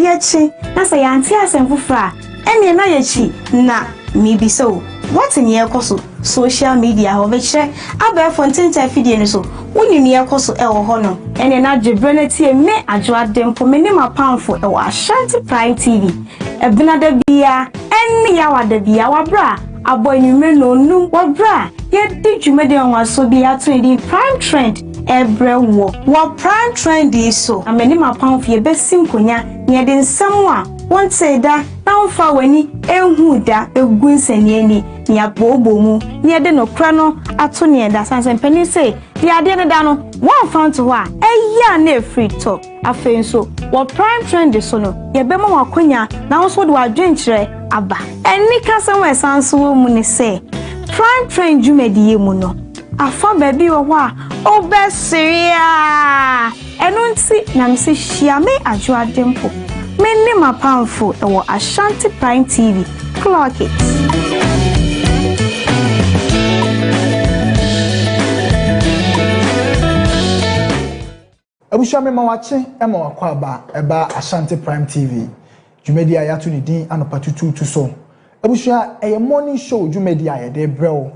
Yɛkyi, na sɛ yɛante asɛm foforɔ a, ɛnneɛ na yɛkyi. Na mebisa o, woate nea ɛrekɔ so social media hɔ? Mekyerɛ, abɛɛfo ntentan afidie no so, wonim nea ɛrekɔ so wɔ hɔ no? Ɛnneɛ na gye berɛ na tie me, Adwo Ade, mpo, me ne m'apamfo wɔ Ashanti Prime TV, Abena da biara, ɛne Yawa da biara, wɔ berɛ a abɔ anwummerɛ nnɔnnum, wɔ berɛ a yɛdi dwumadi nwanwasoɔ bi a yɛato no din Prime Trend. brɛ woɔ. Wɔ Prime Trendy yi so na me ne m'apamfo yɛbɛsi nkonya na yɛde nsɛm a wontee da na womfaa w'ani nhuu da bɛgu nsɛnniani na yɛabooboo mu na yɛde nokorɛ no ato nea ɛda. Sane sɛ mpanin sei, deɛ adeɛ no da no, woamfa anto hɔ a, ɛyɛ a na ɛfiri tɔ. Afei nso, wɔ Prime Trendy so no, yɛbɛma wo akwanya na wo nso wode w'adwenkyerɛ aba. Anikasɛm a ɛsan nso wɔ mu ne sɛ, Prime Trend dwumadi yi mu no, afa baabi wɔ hɔ a wobɛsere aa! Ɛno nti na mese hyia me Adwoademfo, me ne m'apamfo wɔ Ashanti Prime TV. Clock it! Abusua mema wakye ma wakɔ aba ɛba Ashanti Prime TV dwumadi a yɛato ne din Anɔpa Tutuutu so. Abusua ɛyɛ morning show dwumadi a yɛde brɛ wo.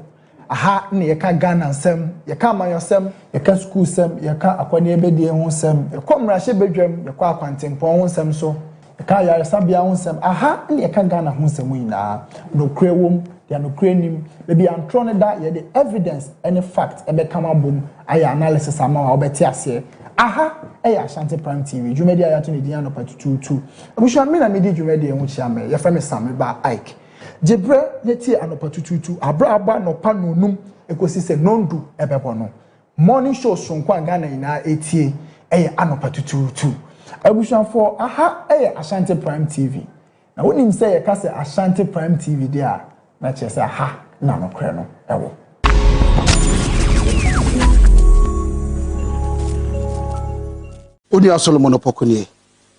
Aha na yɛka Ghana nsɛm, yɛka amanyɔsɛm, yɛka sukuusɛm, yɛka akɔneɛbɛdie ho nsɛm, yɛkɔ mmarahyɛbadwam, yɛkɔ akwantempɔn ho nsɛm nso. Ɛka ayaresabea ho nsɛm, aha na yɛka Ghana ho nsɛm nyinaa. Nokorɛ wom, deɛ nokorɛ nnim. Baabi a ntorɔ no da, yɛde evidence ne fact bɛkam abom ayɛ analysis ama wo a wobɛte aseɛ. Aha yɛ Ashanti Prime TV, dwumadie a yɛato ne din anɔpa tutuutu. Abusua, me na medi dwumadie ho kyia me, yɛfrɛ me Sam, me ba Ike. Gye berɛ na tie anɔpa tutuutu, aberɛ a abɔ anɔpa nnɔnnum kɔsi sɛ nnɔndu bɛbɔ no. Morning show soronko a Ghana nyinaa etie ɛyɛ anɔpa tutuutu. Abusuafoɔ, aha ɛyɛ Ashanti Prime TV. Na wonim sɛ yɛka sɛ Ashanti Prime TV deɛ a, na kyerɛ sɛ ha na nokorɛ no ɛwɔ. Onua Solomon Opoku nie.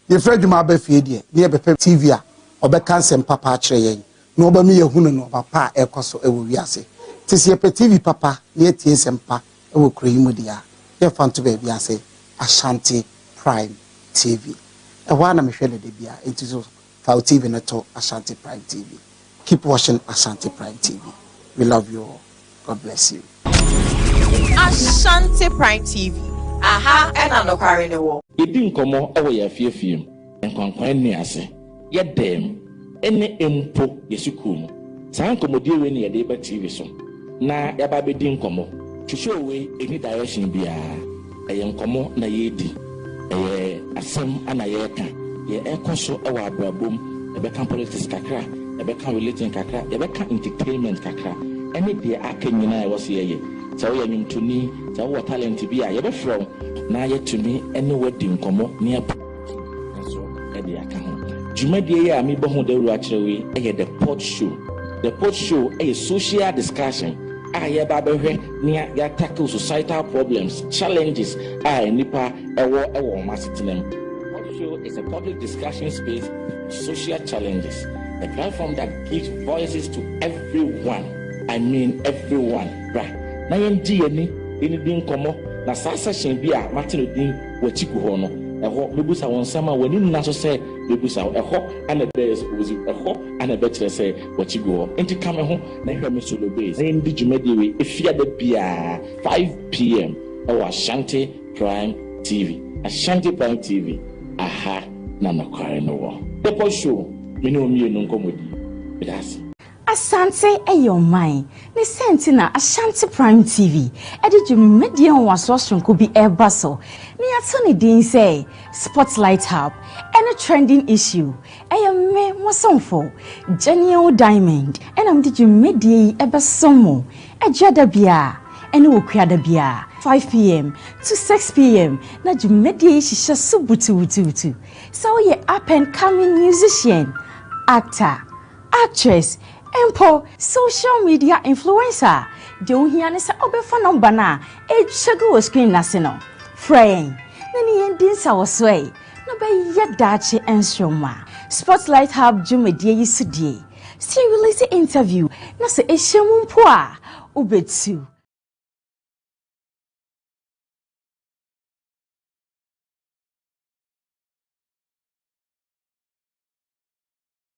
Yɛfiri adwuma aba fie deɛ, na yɛbɛpɛ TV a ɔbɛka nsɛm papa akyerɛ yɛn na ɔbɛma yɛahunu nnoɔma pa a ɛrekɔ so wɔ wiase. Nti sɛ yɛpɛ TV papa na yɛatie nsɛm pa wɔ kuro yi mu deɛ a, yɛmfa nto baabi ase, Ashanti Prime TV. Ɛhɔ ara na mehwɛ no da biara, nti so Fa wo TV no to Ashanti Prime TV. Keep watching Ashanti Prime TV. We love you all. God bless you. Ashanti Prime TV. Aha ɛna nokware no wɔ. Yɛdi nkɔmmɔ wɔ yɛn afiefie mu, yɛn nkwankwan nne ase, yɛn dan mu, ne mpo yɛn sukuu mu. Saa nkɔmmɔdie wei na yɛde reba TV so na yɛaba abɛdi nkɔmmɔ. Hwehwɛ o wei nni direction biara. Ɛyɛ nkɔmmɔ na yɛredi, ɛyɛ asɛm na yɛreka, deɛ ɛrekɔ so wɔ abrabɔ mu, yɛbɛka politics kakra, yɛbɛka religion kakra, yɛbɛka entertainment kakra, ɛne deɛ aka nyina a ɛwɔ sɛ yɛyɛ. Sɛ woyɛ nnwomtoni, sɛ wowɔ talent bi a, yɛbɛfrɛ wo na yɛatumi ne wo adi nkɔmmɔ ne. nso de aka ho. Dwumadie yi a mebɔ ho dawuro akyerɛ wo yi yɛ The Pod Show. The Pod Show yɛ social discussion a yɛba abɛhwɛ nea yɛatackle societal problems, challenges a nnipa wɔ wɔ wɔn asetena mu. Pod Show is a public discussion space for social challenges, a platform that gives voices to everyone, I mean everyone. Bra na yɛngye yɛn ani nidi nkɔmmɔ na saa session bi a mate no din w'akyi gu hɔ no, ɛhɔ mebisa wo nsɛm a w'ani nna so sɛ mebisa wo. Ɛhɔ ara na ɛbɛyɛ sɛ wodzi wo. Ɛhɔ ara na ɛbɛkyerɛ sɛ w'akyi gu hɔ. Enti ka me ho na hwɛ me so no base, na yɛndi dwumadie wei Efiada biara, 5pm wɔ Ashanti Prime TV. Ashanti Prime TV, aha na nokware no wɔ. Depot Show, me ne wo mmienu nkɔmmɔdie. Meda ase. Asante yɛ ɔman, ne sɛ nti na Ashanti Prime TV de dwumadie nwanwasoɔ soronko bi reba so na yɛato ne din sɛ Spotlight Hub ne Trending Issue. Ɛyɛ me, mo somfo, Janiel Diamond na mede dwumadie yi bɛsom mo adwa da biara ne okua da biara, 5pm to 6pm, na dwumadie yi hyehyɛ so butuubutuubutu. Sɛ woyɛ up and coming musician, actor, Actress, mpo social media influencer a, deɛ ohia ne sɛ ɔbɛfa nɔmba no a ɛretwa gu wɔ screen no ase no. Frɛ yɛn na ne yɛn di nsawɔsoɛe na bɛyɛ daakye nsoromma. Spotlight Hub dwumadie yi so deɛ, sɛ yɛ release interview na sɛ ɛhyɛ mu mpo a, wobɛtu.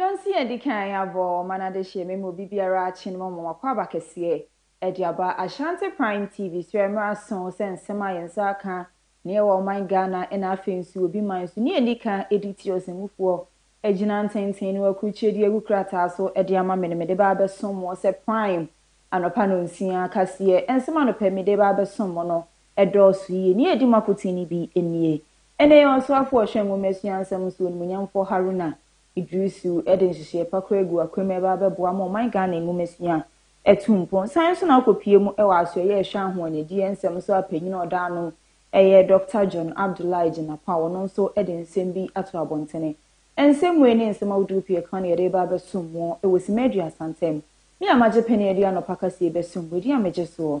Nansi a edi kan abɔ ɔman adehyeɛ mema obi biara akye no mɔmɔ wakwaaba kɛseɛ ɛde aba Ashanti prime TV so ɛmmerɛ aso sɛ nsɛm a yɛn nsa aka na ɛwɔ ɔman Ghana ɛna afei nso obi man so ni a ɛdi kan ɛdi tiri ɔsɛmufoɔ agyina ntenten no akurukyire de agu krataa so ɛde ama me no mede ba abɛsom mo sɛ prime anɔpa nɔnsia kaseɛ nsɛm anɔpa yi mede ba abɛsom mo no Ɛdɔɔso yiye. Nea edi mu akoten no bi nie. Ɛnnɛ yɛn ɔsraafo a ɔhwɛ nwoma asua nsɛm so, Onimuonyamfo Haruna Iddrisu de nhyehyɛe pa kura agu akwam reba abɛboa ama ɔman Ghana nwoma sua atu mpɔn. San nso na akopue mu wɔ asoɛe a ɛhwɛ ahoɔnɛdiyɛ nsɛm so a panyin a ɔda ano yɛ Dɔkta John Abdullahi Jinapah, ɔno nso de nsɛm bi ato abɔntene. Nsɛmmuei ne nsɛm ahodow pii a ɛka no yɛde reba abɛsom mo wɔ simma aduasa ntam. Me a magye pene adi anɔpa ka sɛ yɛbɛsom mo, ɛdin a megye soɔ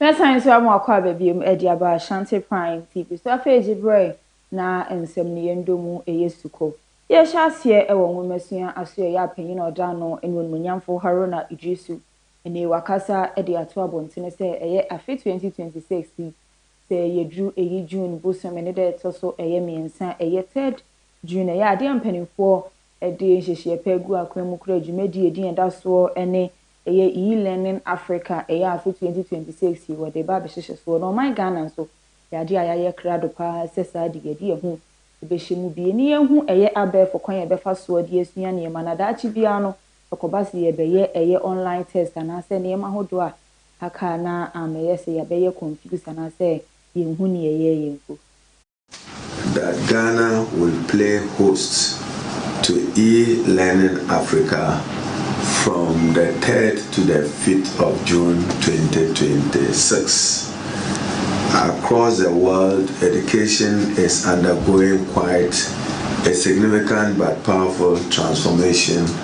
Mɛsan nso ama wakɔ aba biom de aba Ashanti Prime TV so. Afei gye berɛ na nsɛmnuyɛ ndɔ mu yɛ sukɔ. Yɛhyɛ aseɛ wɔ nwomasua asoɛeɛ a panyin a ɔda ano ne Onimuonyamfo Haruna Iddrisu ne wakasa de ato abɔntene sɛ ɛyɛ afe 2026 yi sɛ yɛduru ɛyi June bosome no da ɛtɔ so ɛyɛ mmiɛnsa a ɛyɛ third June ɛyɛ adeɛ a mpaninfoɔ de nhyehyeɛ pɛ gu akwan mu kura dwumadie ɛdin a ɛda soɔ ne ɛyɛ E-Learning Africa ɛyɛ afe 2026 yi wɔde ba abɛhyehyɛ soɔ na ɔman Ghana nso ɛyɛ adeɛ a yɛayɛ krado pa ara sɛ saa de yɛde yɛn ho bɛhyɛ mu bie ne yɛhu ɛyɛ abɛɛfo kwan a yɛbɛfa soɔ de asua nneɛma na daakye biara no ɛkɔba sɛ yɛbɛyɛ ɛyɛ online test anaasɛ nneɛma ahodoɔ a aka a na ammɛyɛ sɛ yɛabɛyɛ confused anaasɛ yɛnhu nea ɛyɛɛ yɛn mpo. That Ghana will play host to E-Learning Africa from the third to the fifth of June twenty twenty six. Across the world, education is undergoing quite a significant but powerful transformation.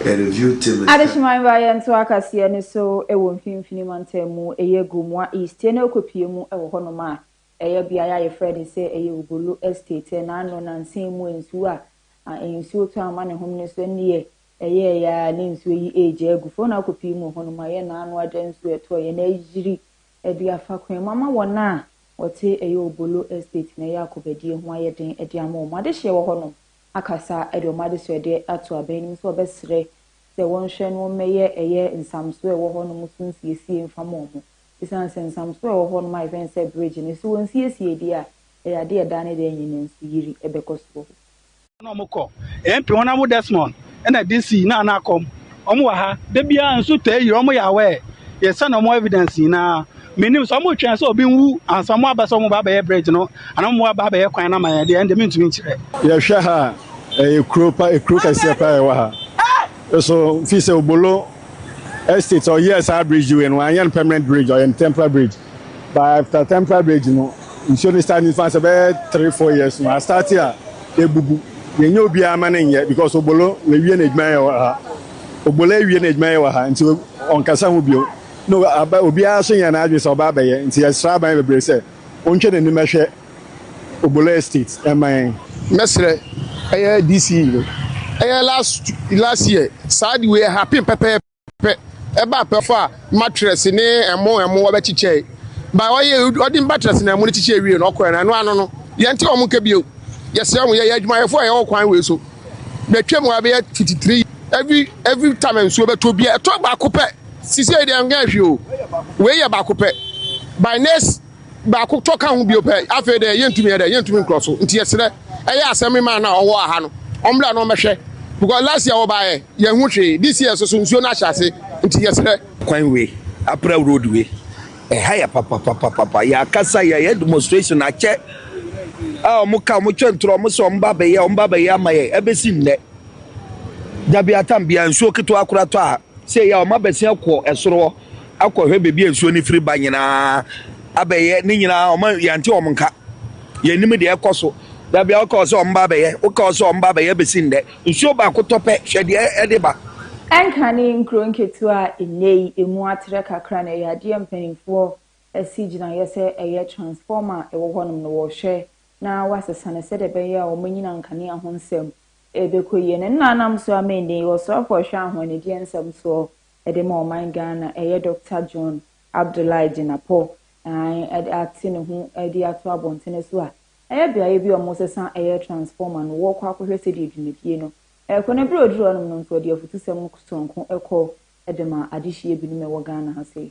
Adehyeman mmeaeɛ ntoa kaseɛ no so wɔ mfimfini mantam mu, ɛyɛ Gomoa East na wokɔpue mu wɔ hɔnom a ɛyɛ beaeɛ a yɛfrɛ no sɛ ɛyɛ Obolo Estate na ano nansa mu nsuo a nsuo tɔ ama ne home no nso nneɛ ɛyɛɛ yɛ a ne nsuo yi ɛregya agu fam na wokɔpue mu wɔ hɔnom a ɛyɛ naano agya nsuo ɛtɔ yɛ na ayiri ɛde afa kwan mu ama wɔn a wɔte ɛyɛ Obolo Estate na ɛyɛ akɔbadie ho ayɛ den ɛde ama wɔn adehyeɛ wɔ hɔnom. akasa de wɔn adesoɛdeɛ ato abanim sɛ ɔbɛsrɛ sɛ wɔnhwɛ no mmɛyɛ ɛyɛ nsamsoɔ a ɛwɔ hɔ nom so nsiesie mfa ma wɔn. Ɛsiane sɛ nsamsoɔ a ɛwɔ hɔ nom ayɛ fɛ nsɛ bridge no, sɛ wɔnsiesie deɛ a, ɛyɛ adeɛ a daa ne daa nyinaa nsuyiri bɛkɔ so wɔ hɔ. na wɔkɔ. Ɛyɛ mpe hɔ na mo Desmond na DC na na akɔm Wɔn wɔ ha da biara nso taa yira wɔn yɛ aware yɛsɛ na wɔn evidence nyinaa menim sɛ wɔn twɛn sɛ obi nwu ansa wɔn aba sɛ wɔn ba abɛyɛ bridge no anaa wɔn aba abɛyɛ kwan na ma yɛn deɛ ɛnde mentumi nkyerɛ. yɛhwɛ ha a ɛyɛ kuro pa ekuro kɛseɛ paa ɛwɔ ha so fi sɛ obolo estate ɔyɛɛ saa bridge wei no anyɛ no permanent bridge ɔyɛ no temporary bridge But after temporary bridge no nsuo no start nifa sɛ bɛyɛ three four years no astarte a ebubu yɛnyɛ obiara ma no nyɛ because obolo wawie n'adwuma yɛ wɔ ha obolo awie n'adwuma yɛ wɔ ha nti ɔnkasa ho bio na aba obiara nso nyɛ n'adwene sɛ ɔba abɛyɛ nti yɛsrɛ aban bebree sɛ ɔntwe n'anim ɛhwɛ obolo estate ɛma yɛn. mɛsrɛ ɛyɛ DC no ɛyɛ last last year saa de wei ɛhappen pɛpɛɛpɛ. pɛ ɛba apɛ fa matress ne ɛmo ɛmo ɔbɛ kyikyɛ ba ɔyɛ ɔde matress na ɛmo ne kyikyɛ wie no ɔkɔɛ na ɛno ano no yɛn ti ɔmo nka bio yɛsrɛ mo yɛyɛ adwumayɛfo a yɛwɔ kwan wei so bɛtwa mu abɛyɛ tititiri every every time nsuo bɛtɔ bia ɛtɔ baako pɛ sisi yɛ deɛ ɛnyɛ ahwɛ o wei yɛ baako pɛ by next Baako tɔ ka ho bio pɛ, afei dɛ yɛntumi yɛ dɛ, yɛntumi nkorɔ so. Nti yɛserɛ, ɛyɛ asɛm man no a ɔwɔ aha no, ɔmbra na ɔmbɛhwɛ. Because last year wɔbaeɛ, yɛnhu hwee, this year nso so nsuo no ahyɛ ase, nti yɛserɛ. Kwan wei, April road wei, ɛha yɛ papapapapa, yɛakasa, yɛayɛ demonstration akyɛ, a wɔn ka, wɔn twɛn toro, wɔn sɛ wɔn ba bɛyɛ, wɔn ba bɛyɛ ama yɛn, ɛbɛsi nnɛ, dabi atam biara nsuo ketewa koraa tɔ aha. Sei a wɔabɛsea kɔ ɛsoro hɔ akɔhwɛ baabi a nsuo no firi ba nyinaa abɛyɛ ne nyinaa wɔn yɛnte wɔn nka yɛnim deɛ ɛkɔ so da bia woka wɔ sɛ wɔn ba abɛyɛ woka wɔ sɛ wɔn ba abɛyɛ bɛsi ndɛ nsuo baako tɔ pɛ hwɛ deɛ ɛde ba. Ɛnka ne nkuro nketewa a nnɛ yi ɛmu atrɛ kakra no ɛyɛ adeɛ a mpanimfoɔ asi gyinaeɛ sɛ ɛyɛ transformer a ɛwɔ hɔnom no wɔhwɛ na wɔasesa no sɛdeɛ ɛbɛyɛ a wɔanyina nkanea ho nsɛm Ɛbɛkɔ yie. Na ne na nam so ara ma ɛnnɛ yi ɔsoafoɔ a ɔhwɛ ahɔnnedeɛ nsɛm soɔ de ma ɔman Ghana ɛyɛ Doctor John Abdullahi Jinapor aane ate ne ho de ato abɔntene so a ɛyɛ beaeɛ bi a wɔsesa ɛyɛ transformer no wɔrekɔ akɔhwɛ sɛdeɛ dwumadie no rekɔ na berɛ a ɔduruu hɔ nom no nso ɔde afutusɛm sononko kɔ de maa adehyeɛ binom a ɛwɔ Ghana ha sei.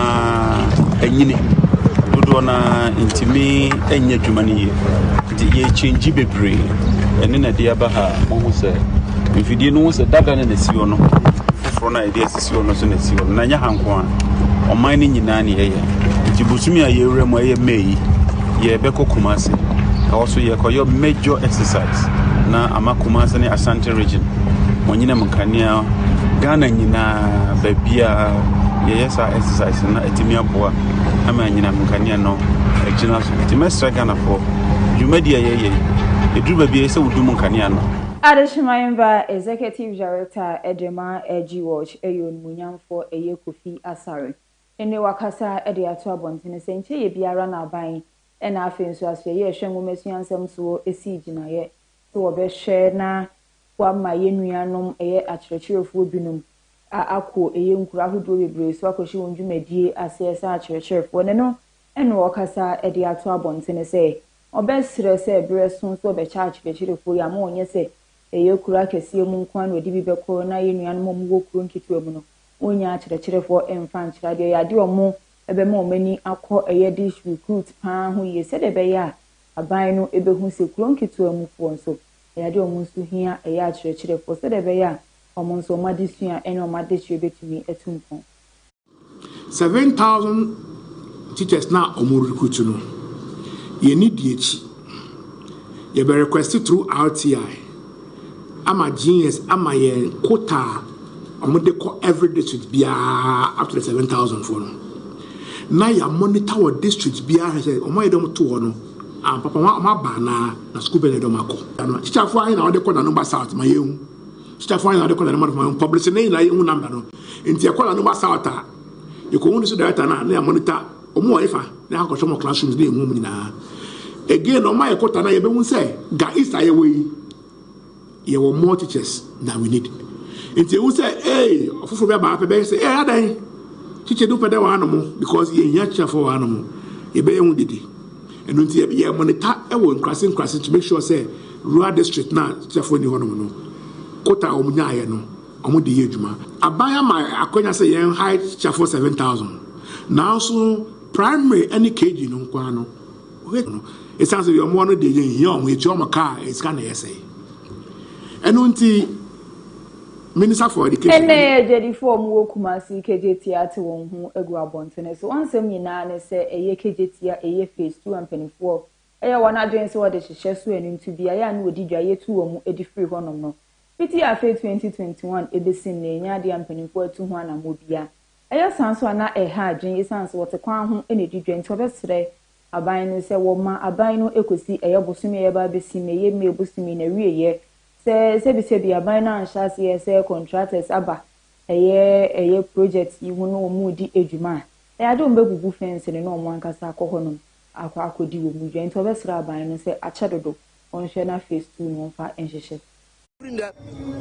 nyinaa nyini dodoɔ no ara ntumi nyɛ adwuma no yie nti yɛkyɛngyi bebree ɛne na ɛde aba ha mohu sɛ mfidie no ho sɛ dada ne na ɛsi hɔ no foforɔ no a yɛde asisi hɔ no so na ɛsi hɔ no na ɛnyɛ ha nko a ɔman no nyinaa ne yɛyɛ nti bosome a yɛwura mu ɛyɛ may yi yɛbɛkɔ kuma ase ɛhɔ so yɛkɔyɛ major exercise na ama kuma ase ne asante region wɔnyinam nkanea ghana nyinaa baabiaa yɛyɛ saa exercise no na ɛtumi aboa ama anyinam nkanea no agyina so nti mɛsrɛ ghanafoɔ dwumadi a yɛyɛ ɛduru baabi ɛyɛ sɛ wodum nkanea no Adehyema Mba Executive Director Edema Edgy Watch ɛyɛ onimunyamfoɔ ɛyɛ Kofi Asare ɛne wakasa de ato abɔntene sɛ nkyɛ yɛ biara na aban ɛna afei nso asoɛyɛ ɛhwɛ nwomasua nsɛm soɔ ɛsii gyinaeɛ sɛ wɔbɛhwɛ na Boa ma yɛn nuanom ɛyɛ akyerɛkyerɛfoɔ binom a akɔ ɛyɛ nkuro ahodoɔ bebree so akɔhyɛ wɔn dwumadie aseɛ sɛ akyerɛkyerɛfoɔ ne no ɛne ɔkasa ɛde ato abɔntene sɛ ɔbɛ serɛ sɛ berɛ so nso ɔbɛkyɛ akyerɛkyerɛfoɔ yi ama ɔnyɛ sɛ ɛyɛ kuro akɛseɛ mu nkoa na ɔde bi bɛkɔ na yɛn nuanom a wɔn wɔ kuro nketewa mu no wɔn nnya akyerɛkyerɛfoɔ mfa nkyerɛ adeɛ ɛyɛ adeɛ a wɔn ɛbɛma wɔn ani akɔ ɛyɛ dish recruit paa ho yie sɛdeɛ ɛbɛyɛ a aban no ɛbɛhu sɛ kuro nketewa mu foɔ nso Yɛade wɔn nso hia ɛyɛ akyerɛkyerɛfoɔ sɛdeɛ ɛbɛyɛ a wɔn nso wɔn adesua ne wɔn adehyeɛ bɛtumi atu mpɔn. Seven thousand teachers no a wɔn recruit no, yɛn ni di akyi. Yɛbɛ request through RTI ama GS ama yɛn quota a wɔn de kɔ every district biara up to the seven thousand foɔ no. Na yɛ monitor wɔ district biara hwɛ sɛ wɔn a yɛde wɔn to hɔ no, Ah papa wɔn aba anaa na sukuu bɛn na ɛde wɔn akɔ. Tikyafoɔ ahe na wɔde kɔ Nanumba South ma yɛn hu. Tikyafoɔ ahe na wɔde kɔ Nanumba North ma yɛn hu. Publish ne nyinaa yɛn hu number no. Nti yɛkɔ Nanumba South a yɛkɔ hu district director no a na yɛ monitor wɔn wɔ efa na yɛakɔ hwɛ wɔn classrooms na yɛn hu wɔn nyinaa. Again wɔn ma yɛkɔ ta na yɛbɛhu sɛ ga east a yɛwɔ yi. Yɛwɔ more teachers than we need. Nti ehu sɛ ee ɔfoforo bi aba pɛ bɛyɛ sɛ ee adɛn teacher du pɛ dɛ wɔ hanom because yɛhia akyerɛfoɔ wɔ hanom yɛbɛyɛ ho dede. Ɛno nti yɛ monitor wɔ nkurase nkurase to make sure sɛ rural district no a teacherfoɔ nni hɔnom no quota a wɔn nyaeɛ no wɔn de yɛ adwuma. Aban ama akwanya sɛ yɛn hire teacherfoɔ 7000 nanso primary ne KG no nko ara no Wohwɛ no, esiane sɛ wɔn mmoa no deɛ yɛnhia wɔn, yɛtua wɔn ka a, ɛyɛ sika na yɛsɛe. Ɛno nti, Minister for Education. Ɛnnɛ yɛ agyadifo a wɔwɔ Kumasi Kejetia ate wɔn ho agu abɔntene so. Wɔn nsɛm nyinaa ne sɛ ɛyɛ Kejetia, ɛyɛ Phase Two a mpanimfoɔ a ɛyɛ wɔn adwene sɛ wɔde hyehyɛ so ani nto beaeɛ a na wɔdi dwa yɛtu wɔn de firi hɔnom no. Fiti afe 2021 besi nnɛ, ɛnyɛ adeɛ a mpanimfoɔ atu ho anammɔn biara. Ɛyɛ saa nso a na ɛha adwene esiane sɛ wɔte kwan ho na edi dwa nti wɔbɛsrɛ aban no sɛ wɔmma aban no kosi ɛyɛ bosome a yɛreba abesi mu, ɛyɛ May bosome na awieɛ sɛ sɛbisɛbi aban no anhyɛ aseɛ sɛ contractors aba ɛyɛ ɛyɛ project yi ho na wɔn redi adwuma a ɛyɛ adeɛ wɔn bɛbubu fence no na wɔn ankasa akɔ hɔnom akɔ akɔdi wɔn dwa nti wɔbɛsrɛ aban no sɛ akyɛ dodo wɔnhwɛ na phase two no wɔmfa nhyehyɛ Firi nnɛ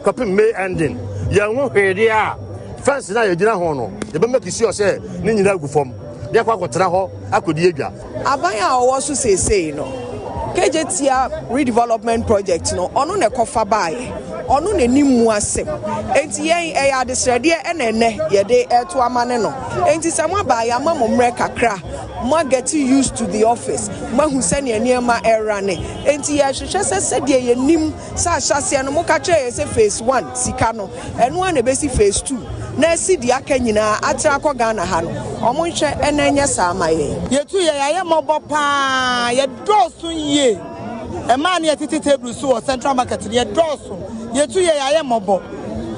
kɔpem May ending, yɛn ho hwee deɛ a, fence no a yɛgyina ho no, yɛbɛ make sure sɛ ne nyinaa agu fam na yɛakɔ akɔtena hɔ akɔdi adwa. Aban a ɔwɔ so seesei no, Kejetia Redevelopment Project no, ɔno na ɛkɔfa baeɛ, ɔno na ɛnim mu asɛm. Enti yɛn, ɛyɛ adesrɛdeɛ na ɛnnɛ yɛde reto amane no. Enti sɛ moaba a, yɛama mo mmerɛ kakra Moa gɛte used to the office, moahu sɛnea nneɛma rane. Enti yɛrehwehwɛ sɛ sɛdeɛ yɛnim sɛ ahyɛaseɛ no moka kyerɛɛ yɛn sɛ phase one, sika no, ɛno ara na ɛbɛsi phase two, na asi deɛ aka nyinaa atrɛ akɔ Ghana ha no, wɔnhwɛ na ɛnyɛ saa mma yɛn. Yɛtu yɛn ayɛ mmɔbɔ pa ara, yɛdɔɔso yie, mmaa no yɛtete table so wɔ Central Market no, yɛdɔɔso, yɛtu yɛn ayɛ mmɔbɔ,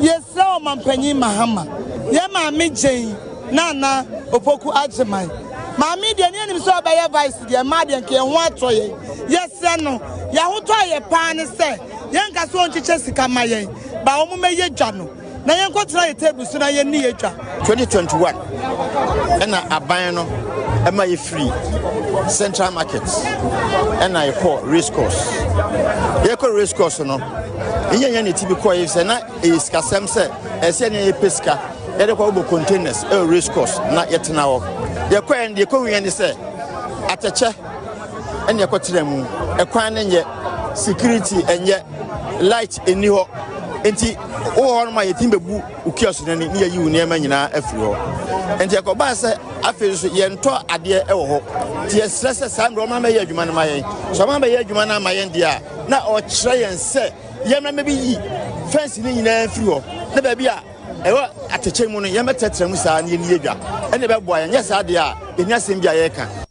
yɛsrɛ Ɔmanpanyin Mahama, yɛn Maame Jane, Nana Opoku Agyeman, Maame deɛ ne yɛnim sɛ ɔbɛyɛ Vice deɛ mmaa deɛ nka yɛn ho atɔ yɛn. Yɛsrɛ no, yɛn ahotɔ a ɛyɛ paa ne sɛ yɛnka sɛ ɔnkyekyɛ sika mma yɛn, but wɔmmɛyɛ dwa no na yɛnkɔtena yɛn table so na yɛnni yɛn dwa. 2021 na aban no ma yɛfiri Central Market na yɛkɔɔ Race Course. Yɛkɔ Race Course no, yɛnyɛ yɛn ne ti bi kɔeɛ sɛ na ɛyɛ sikasɛm sɛ ɛsɛ ne yɛpɛ sika. Yɛde kɔ bɔ containers ɛwɔ race course na yɛtena hɔ. Deɛ kɔɛ no deɛ kɔhu yɛn ne sɛ atɛkyɛ ɛne ɛkɔ tena mu. Ɛkwan no nyɛ, security ɛnyɛ, light ɛni hɔ. Nti wowɔ hɔ no ma yɛtumi bɛbu ukua so n'ani ne yɛyi wo nneɛma nyinaa afiri hɔ. Nti ɛkɔbaa sɛ afei nso yɛntɔ adeɛ ɛwɔ hɔ. Nti yɛsrɛ sɛ saa mmerɛ ɔma bɛyɛ adwuma no ma yɛn. So ɔma bɛyɛ adwuma no ama yɛn deɛ a na ɔkyerɛ yɛn sɛ yɛmmra mɛbɛyi fɛnsi no nyinaa mfiri hɔ na baabi a Ɛwɔ atɛkyɛ mu no, yɛmmɛtrɛtrɛ mu saa na yɛnni yɛn dwa. Ɛnna ɛbɛboa yɛn. Anyɛ saa deɛ a, yɛnni asɛm bi a yɛreka.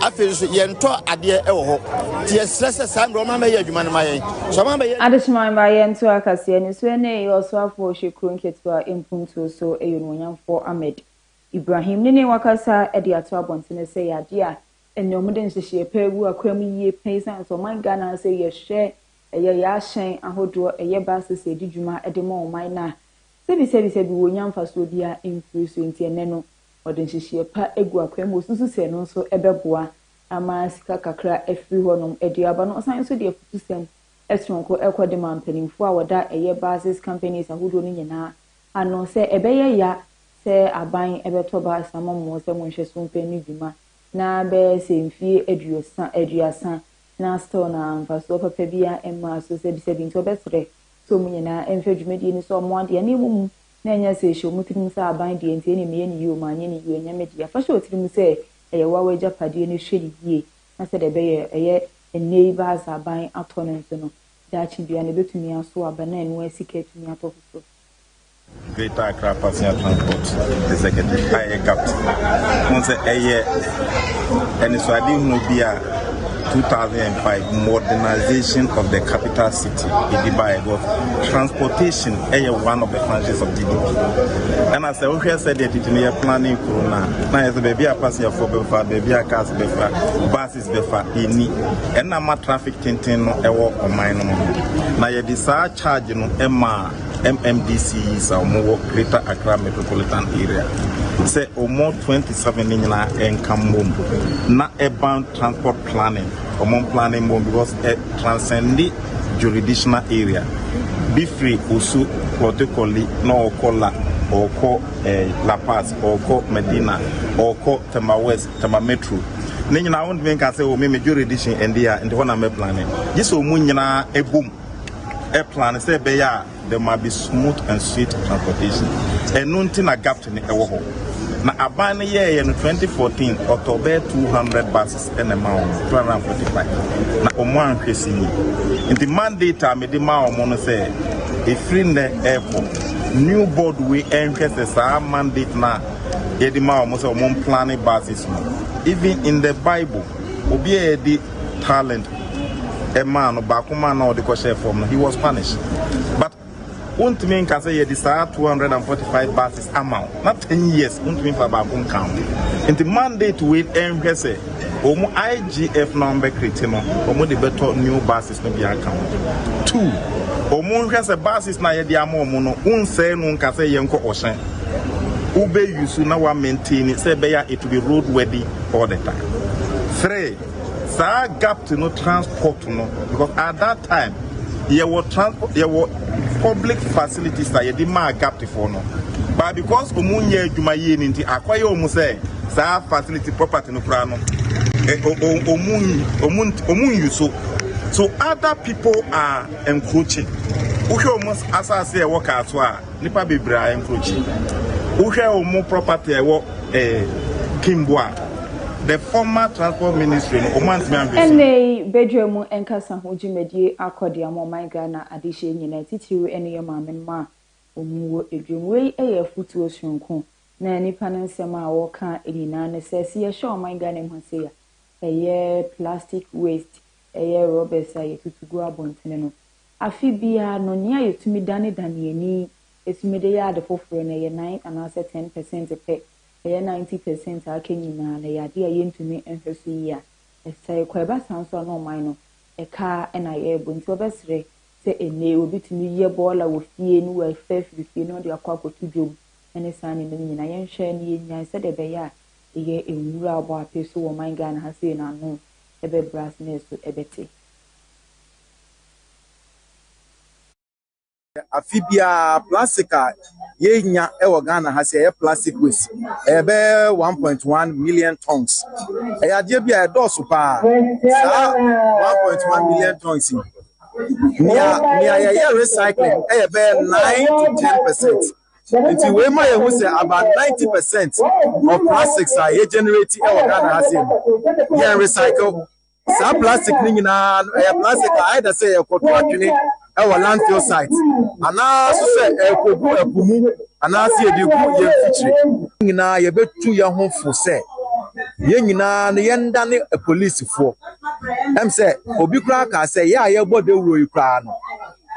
afei nso yɛntɔ adeɛ wɔ hɔ nti yɛsrɛ sɛ saa mmerɛ ɔma bɛyɛ adwuma no ma yɛn so ɔma bɛyɛ adesoma mma yɛnto akaseɛ ne so ne ɛyɛ ɔsoafoɔ ɔhyɛ kuro nketewa mpuntuo so ɛyɛ onuonyamfoɔ Ahmed Ibrahim ne ne wakasa de ato abɔntene sɛ yɛ adeɛ a Ɛnneɛ wɔde nhyehyeɛ pa agu akwan mu yie pɛ esiane sɛ ɔman Ghana sɛ yɛhwɛ ɛyɛ yɛ ahyɛn ahodoɔ ɛyɛ buses ɛdi dwuma de ma ɔman no a sɛbi sɛbi sɛbi wɔnya mfasoɔ biara mfiri so nti ɛnnɛ no wɔde nhyehyeɛ pa agu akwan mu wɔsusu sɛ ɛno nso ɛbɛboa ama sika kakra afiri hɔnom de aba na ɔsan nso de afutusɛm soronko kɔ de ma mpanimfoɔ a wɔda ɛyɛ buses companies ahodoɔ no nyinaa ano sɛ ɛbɛyɛ ya sɛ aban bɛtɔ bus ama mo sɛ monhwɛ so mfa nni dwuma na bɛyɛ sɛ mfie aduosa, aduasa, na still na mfasoɔ papa biara mmaa so, sɛbisɛbi nti ɔbɛsrɛ sɛ ɔmo nyinaa mfa dwumadie no so ɔmo adeɛ na ɛmɔ mu na ɛnyɛ sɛ ɛhyɛ ɔmo tirim sɛ aban deɛ nti ɛneɛ meyɛ no yie o manyɛ no yie o ɛnyɛ me dea, fa hyɛ wo tirim sɛ ɛyɛ wo a w'agyapadeɛ no hwɛ no yie na sɛdeɛ ɛbɛyɛ ɛyɛ ɛnnɛ yi baa sɛ aban atɔ no nso no daakye biara no ɛbɛtumi aso aba na ɛno ara sika atumi atɔ foforɔ. Greater Accra Passenger Transport Executive a ɛyɛ GAPT ho sɛ ɛyɛ anisoadehunu bi a 2005 modernization of the capital city ɛdi baeɛ because transportation ɛyɛ one of the functions of GDP ɛna sɛ wohwɛ sɛ deɛ tete no yɛ planning kuro no a na yɛ sɛ baabi a passengerfoɔ bɛfa baabi a cars bɛfa bus Airlines bɛfa nni ɛna ma traffic tenten no ɛwɔ ɔman no mu no, na yɛde saa charge no maa MMDCEs a wɔn wɔ Greater Accra Metropolitan Area sɛ wɔn 27 no nyinaa ɛnka mmom na ɛban transport planning, wɔn planning mmom because ɛ transcende jurisdictional area bi firi Osu, Klottey-Korle na ɔkɔ La ɔkɔ eh, La Paz ɔkɔ Medina ɔkɔ Tema West. Tama Metro. Ne nyinaa wontumi nka sɛ o oh, me me jurisdiction ɛnde a nti hɔ na mɛplane. Gye sɛ ɔmu nyinaa ɛbom ɛplane sɛ ɛbɛyɛ a there might be smooth and sweet transportation. Ɛno nti na gapt no ɛwɔ hɔ. Na aban no yɛɛyɛ no 2014 ɔtɔ bɛyɛ 200 buses ɛna ɛma wɔn 245 na wɔn anhwɛ si yi. Nti mandate a mede ma wɔn no sɛ ɛfiri nnɛ ɛkɔ new board wei ɛnhwɛ sɛ saa mandate no a yɛde ma wɔn sɛ wɔn mplane buses no even in the bible obi a yɛde talent ɛmaa no baako maa na ɔde kɔhyɛ fam no he was punished but wontumi nka sɛ yɛde saa 245 buses ama wo na 10 years wontumi fa baako nka ho nti mandate wei ɛnhwɛ sɛ wɔn igf na wɔn bɛkrete no wɔn de bɛtɔ new buses no bi aka ho. Two, wɔn nhwɛ sɛ buses na yɛde ama wɔn no, wonsɛe no nka sɛ yɛnkɔ ɔhyɛn. Wobɛ use na wa maintain sɛ ɛbɛyɛ it be road worthy all the time. Three, saa gap to no transport no because at that time yɛwɔ transport yɛwɔ public facilities na yɛde maa gap to for no but because wɔn nyɛ adwuma yie no nti akɔyɛ wɔn sɛ saa facility property no koraa no wɔn wɔn wɔn use so. so other people are encroaching wohwɛ wɔn asase a ɛwɔ kaa so a nipa bebree a encroaching wohwɛ wɔn property a ɛwɔ ɛɛ kimbo a the former transport ministry no wɔn antumi anhwɛ si. Ɛnnɛ yi badwa mu nkasa ho dwumadie akɔ deɛ ama ɔman Ghana adehyeɛ nyinaa titiriw ɛne yɛn maamenom a wɔwɔ adwam. Wei yɛ afotuo sononko na nnipa no nsɛm a wɔka nyinaa ne sɛ, sɛ yɛhwɛ ɔman Ghana mu ha sei a, ɛyɛ plastic waste, ɛyɛ rɔbɛs a yɛtutu gu abɔntene no. Afe biara no, nea yɛtumi danedane yɛn ani tumi de yɛ ade foforɔ no, ɛyɛ nine anaasɛ ten pɛsɛnte pɛ. Ɛyɛ ninety pɛsɛnte a aka nyinaa no, ɛyɛ adeɛ a yɛntumi nhwɛ so yie a ɛsɛe kɔ. Ɛba saa nso a, na ɔman no ɛka ara na yɛrebɔ. Nti wobɛsrɛ sɛ ɛnnɛ yi obi tumi yɛ bɔɔla wɔ fie na wafa afiri fie na ɔde akɔ akɔto dwom ne saa nneɛma no nyinaa. Yɛnhwɛ na yɛnnyae sɛdeɛ ɛbɛyɛ a yɛ nwura a ɔbɔ ape so wɔ ɔman Ghana ha sei no ano bɛbrɛ ase na ɛso bɛte. Afe biara plastic a yenya wɔ Ghana ha sɛ ɛyɛ plastic waste ɛyɛ bɛyɛ one point one million tons. Ɛyɛ adeɛ bi a ɛdɔɔso paa. Saa one point one million tons yi, nea nea yɛyɛ recycling ɛyɛ bɛyɛ nine to ten percent. Nti wei ma yɛhu sɛ about 90 percent of plastics a yɛ generate wɔ Ghana ha sei no, yɛn recycle. Saa plastic no nyinaa no ɛyɛ plastic a either sɛ yɛkɔto atwene wɔ landfill site anaa so sɛ ɛkɔgu ɛpo mu anaa sɛ yɛde gu yɛn mfikyire. Nyinaa yɛbɛtu yɛn ho fo sɛ yɛn nyinaa no yɛndane apolisifoɔ. Ɛm sɛ obi koraa kaa sɛ yɛ a yɛbɔ dawuro yi koraa no,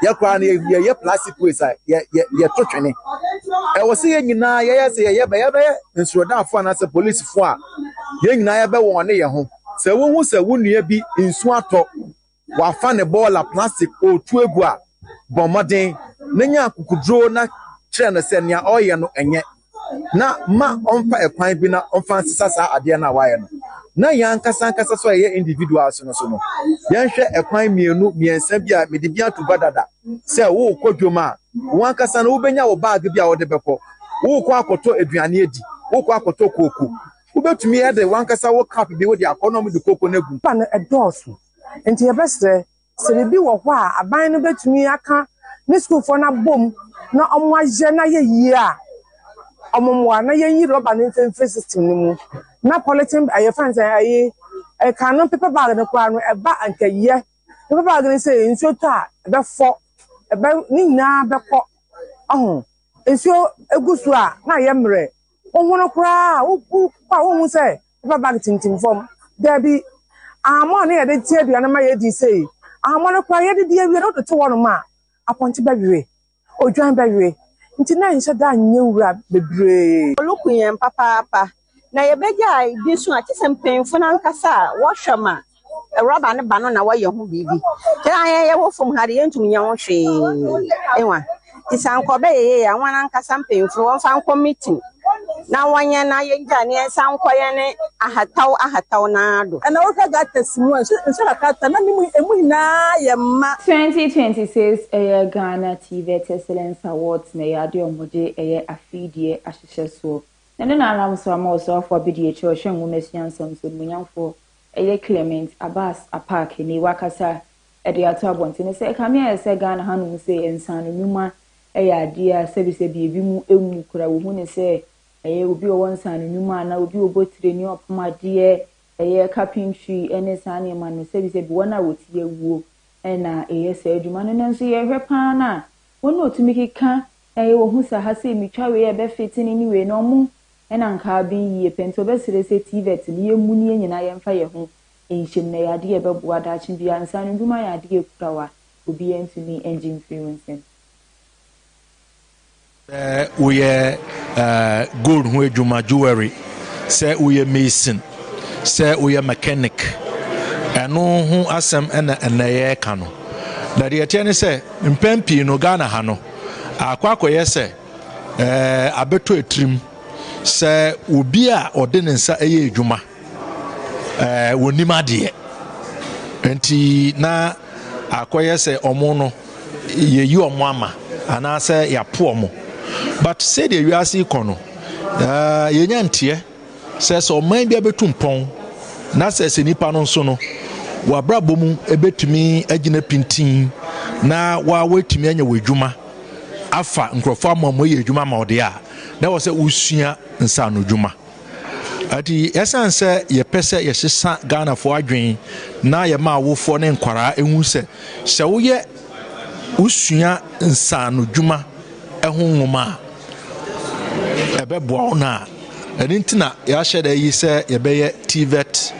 yɛ koraa no yɛyɛ plastic waste a yɛto twene ɛwɔ sɛ yɛn nyinaa yɛyɛ sɛ yɛyɛ bɛyɛ bɛyɛ nsordaafo anaasɛ polisifo a yɛn nyinaa yɛbɛwɔn ne yɛn ho sɛ wohu sɛ wo nua bi nsu atɔ wafa ne bɔɔla plastic ɔretu agu a bɔ mmɔden na nya akokoduro na kyerɛ no sɛ nea ɔreyɛ no ɛnyɛ na ma ɔmfa ɛkwan bi na ɔmfa nsesa saa adeɛ no a wayɛ no na yɛn ankasa ankasa so a yɛyɛ individual so no so no yɛnhwɛ ɛkwan mmienu mmiɛnsa bi a mede bi ato gua dada sɛ wokɔ dwom a wo ankasa no wobɛnya wo baage bi a wode bɛkɔ wokɔ akɔtɔ aduane adi wokɔ akɔtɔ kooko wobɛtumi ɛde wankasa wo cup bi wode akɔ na ɔmode kooko no agu pa no ɛdɔɔso nti yɛbɛsrɛ Sɛ biribi wɔ hɔ a aban no bɛtumi aka ne sukuufoɔ no abɔ mu na wɔayɛ no ayɛ yie a, wɔmmoa na yɛnyi rɔba no mfiri system no mu. Na polythene ɛyɛ fɛn sɛ ɛyi ɛkan no paper bag no koraa no ɛba nkɛyɛ. Paper bag no sɛ nsuo tɔ a ɛbɛfɔ, ɛbɛ ne nyinaa bɛkɔ. Ɔho nsuo gu so a na ayɛ mmerɛ. Wohono koraa a wokɔ a wonhu sɛ. Paper bag tintim fam. Dabi. Ahammɔ a na yɛde te aduane ma yɛadi sei, ahammɔ no koraa yɛde di awie no wode to hɔnom a, apɔnkye bɛwewe, odwan bɛwewe. Nti na ɛnhyɛ da nyɛ wura bebree. Ɔno ku yɛn papaapa. Na yɛbɛgyae di nso a, gye sɛ mpanyimfo no ankasa a wɔhwɛ ma. Rɔba no ba no na wɔyɛ ho biribi. Kra yɛn yɛwɔ fam ha de yɛntumi nyɛ ho hwee. Ewa. Nti sɛ anka ɔbɛyɛ yie a wɔn ankasa mpanyinfo no wɔmfa nkɔ meeting na wɔnyɛ na yɛngya ne yɛn nsa nkɔ yɛn ne ahataw ahataw naa do. Ɛna wohwɛ gutters mu a nsu nsu kakra ta na ne mu emu nyinaa yɛ ma. Twenty twenty six ɛyɛ Ghana TVET Excellence Awards na ɛyɛ adeɛ a wɔde ɛyɛ afidie ahyehyɛ soɔ. Na ɛno na ara nso ama Ɔsoafoɔ Abedie Kyerɛwhyɛ Nwoma Suansa Nso Animuonyamfoɔ Ɛyɛ Clement Abbas Apaak ni wakasa de ato abɔnten no sɛ ɛkame ayɛ sɛ Ghana hanom se nsaano nnwuma yɛ adeɛ a sɛbisɛbi ebinom mmu koraa, wɔhu no sɛ ɛyɛ obi a ɔwɔ nsaano nnwuma anaa obi a ɔbɔ tire ne ɔpam adeɛ, ɛyɛ carpentry ne saa nneɛma no, sɛbisɛbi wɔn a wɔte awuo na ɛyɛ saa adwuma no. Nanso yɛhwɛ pa ara no a, wɔn a wɔtumi keka, wɔhu sɛ aha sei metwa wei a ɛbɛfete ne ne wei no, wɔn Nna nka aben yie pɛ, ntsi ɔbɛserɛ sɛ TVET no yɛmmu no yɛn nyinaa yɛmfa yɛn ho nhyɛ mu na ɛyɛ ade a ɛbɛboa daakye biara. Nsaano ndwuma yɛ ade a ekura wo a obiara ntumi ngye mfiri wo nsam. Sɛ woyɛ gold ho adwuma, jewelry, sɛ woyɛ mason, sɛ woyɛ mechanic, ɛno ho asɛm na ɛnɛ yɛreka no. Na deɛ ɛteɛ ne sɛ, mpɛn pii no Ghana ha no, akɔ akɔyɛ sɛ Ɛɛ, abɛtɔ atirim sɛ obi a ɔde ne nsa yɛ adwuma, ɛɛ, wɔnim adeɛ. Nti na akɔyɛ sɛ ɔmo no, yɛyi ɔmo ama anaasɛ yɛapo ɔmo. But sɛdeɛ wiase yi kɔ no, ɛɛ, yɛnya nteɛ. Sɛ sɛ ɔman bi abetu mpɔn na sɛ sɛ nipa no nso no w'abrabɔ mu ebetumi agyina pintinn na wa w'atumi anya w'adwuma afa nkurɔfoɔ ama wɔn ayɛ adwuma ama ɔde a na wɔ sɛ wosua nsaano dwuma ati ɛsan sɛ yɛpɛ sɛ yɛsesa Ghanafoɔ adwen na yɛma awofoɔ ne nkwaraa ehu sɛ sɛ woyɛ wosua nsaano dwuma ɛho nwoma a Ɛbɛboa wo no a, ɛno nti na yɛahyɛ da yi sɛ yɛbɛyɛ TVET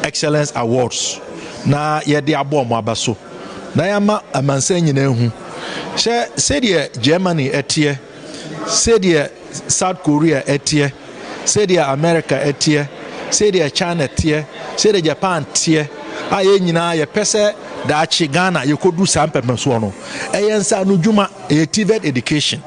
Excellence Awards na yɛde abɔ wɔn aba so na yɛama amansan nyinaa ahu. Hyɛ sɛdeɛ Germany ɛteɛ, sɛdeɛ South Korea ɛteɛ, sɛdeɛ America ɛteɛ, sɛdeɛ China teɛ, sɛdeɛ Japan teɛ a yɛn nyinaa yɛpɛ sɛ daakye Ghana yɛkɔdu saa mpɛmpɛnsoɔ no. Ɛyɛ nsaano dwuma, ɛyɛ TVET education.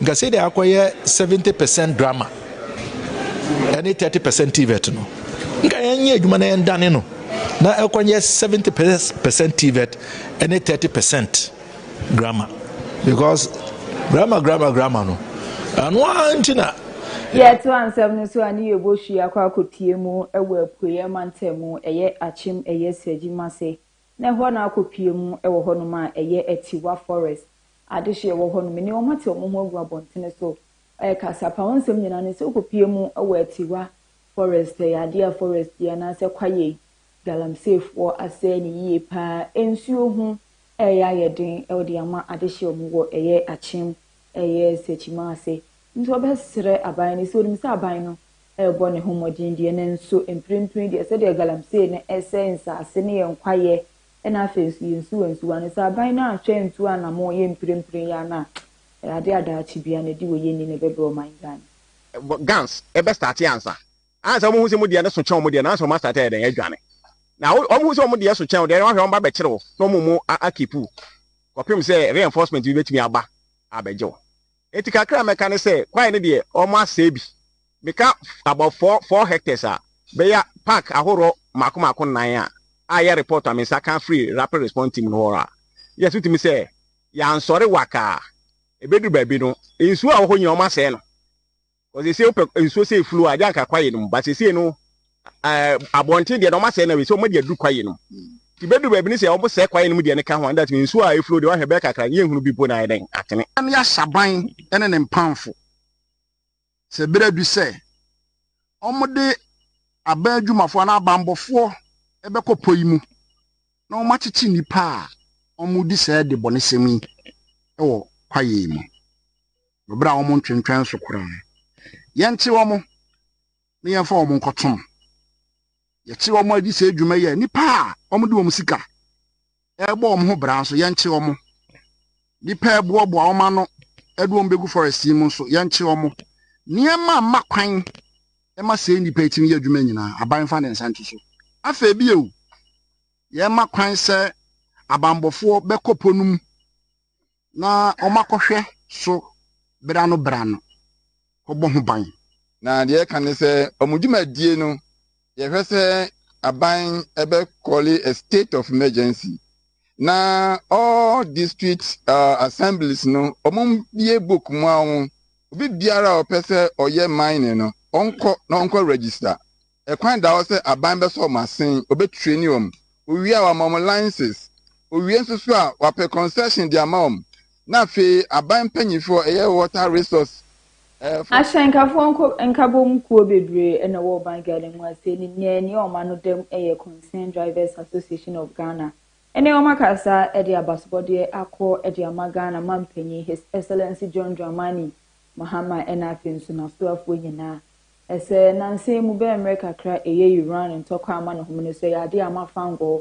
Nka sɛdeɛ akɔyɛ seventy percent drama ɛne thirty percent tvet no nka yɛnyɛ adwuma na yɛndane no na ɛkɔnyɛ seventy percent tvet ɛne thirty percent drama because drama drama drama no ɛno ara nti na. yɛto ansɛm no so a ne yɛbɔ hwi akɔ akɔtie mu wɔ apueɛ mantam mu ɛyɛ akyem ɛyɛ sragyi mase Na ɛhɔ na akɔpue mu wɔ hɔnom a ɛyɛ atiwa, forest, adehyeɛ wɔ hɔnom. Mene wɔn ate wɔn ho agu abɔntene so rekasa. Fa wo nsɛm nyinaa ne sɛ wokɔpue mu wɔ atiwa, forest, ɛyɛ adeɛ a forest yi anaasɛ kwaeɛ yi, galamseyfoɔ asɛe no yie pa ara. Nsuo ho reyɛ ayɛ den de ama adehyeɛ a wɔwɔ ɛyɛ Akyem, ɛyɛ Sɛkyimaase, Nti wɔbɛsrɛ aban no sɛ onim sɛ aban no rebɔ ne ho mmɔden deɛ, nanso mprempren deɛ sɛdeɛ galamsey no resɛe nsase ne yɛn kwaeɛ na afei nso yɛn nsuwa nsuwa no, sɛ aban no anhwɛ antu anamɔn yɛ mprempren yi ara no a, ɛyɛ adeɛ a daakye biara na ɛde wɔ yɛn ani na ɛbɛbrɛ ɔman Ghana. Guns bɛ starte ansa ansa wɔn hu sɛ wɔn deɛ no so kyɛn wɔn deɛ no ansa wɔn a starte ayɛ dɛn adwane na wɔn hu sɛ wɔn deɛ so kyɛn wɔn deɛ no wɔn ahwɛ wɔn ba bɛkyere wo na wɔn mu a keep wo kɔpem sɛ reinforcement bi bɛtumi aba abɛgye wo Enti kakra a mɛka ne sɛ kwaeɛ no deɛ wɔasɛe bi. Meka about four four hectares a, bɛyɛ park ahoroɔ mmaako mmaako nnan a a ɛyɛ report a me nsa ka firi Rapid Response Team no hɔ a, yes wotumi sɛ yɛansɔre waka a, ɛbɛduru baabi no nsuo a ɛwɔ hɔ nyinaa wɔasɛe no. Ɔse se wopɛ nsuo sei flu a gye anka kwaye no mu but sesei no eh, abɔnten deɛ na ɔma sɛe na wei sɛ ɔma de aduru kwaye no mu nti bɛduru baabi no sɛ ɔmo sɛe kwaye no mu deɛ no ka ho a ɛnda tumi nsuo a eflu deɛ wahwɛ bɛyɛ kakra no yɛnhunu bi mpo na ayɛ dɛn atene. Hwan ne asaban ne ne mpamfo? Sɛ bere adu sɛ wɔde aban adwumafo anaa abanbɔfoɔ bɛkɔ pɔ yi mu na wɔakyekye nnipa a wɔredi saa adebɔnesɛm yi wɔ kwaeɛ yi mu. wɔ bere a wɔntwentwɛn so koraa no. Yɛnkye wɔn na yɛmfa wɔn nkɔto mu. Yɛkye wɔn a, gye sɛ adwuma yi a nnipa a wɔde wɔn sika rebɔ wɔn ho bra nso, yɛnkye wɔn. Nnipa a ɛboaboa wɔn ano de wɔn begu forest yi mu nso, yɛnkye wɔn. Nneɛma a mma kwan ma sɛɛ nnipa yi tumi yɛ adwuma nyinaa, aban mfa ne nsa nto so. Afei bio, yɛmma kwan sɛ abanbɔfoɔ bɛkɔ po no mu. na wɔakɔhwɛ so bere ano bere ano kɔbɔ ho ban. Na deɛ ɛka ne sɛ wɔn dwumadie no yɛhwɛ sɛ aban ɛbɛ kɔle a state of emergency na all district uh, assemblies no wɔn bie book mu a wɔn obi biara a ɔpɛ sɛ ɔyɛ mining no ɔnkɔ na ɔnkɔ register. Ɛkwan da hɔ sɛ aban bɛsɔ wɔn asen, wɔbɛtraini wɔn, wɔwie a wɔama wɔn license, wɔwie nso so a wɔapɛ concession de ama wɔn, na afei aban mpanyinfoɔ a ɛyɛ water resource foɔ. Ahyɛnkafoɔ nko nkabom kuo bebree na ɛwɔ ɔban Ghana mu a sei ne nyinaa nie wɔn ano dam yɛ Concerned Drivers Association of Ghana ne wɔn akasa de abasobɔdeɛ akɔ de ama Ghana mampanyin His Excellency John Dramani Mahama ɛna afei nso n'asoafoɔ nyinaa Esɛ nansa yi mu bɛ mmerɛ kakra eyɛ Iran ntɔkwa amanehom no sɛ yade a ama fangɔɔ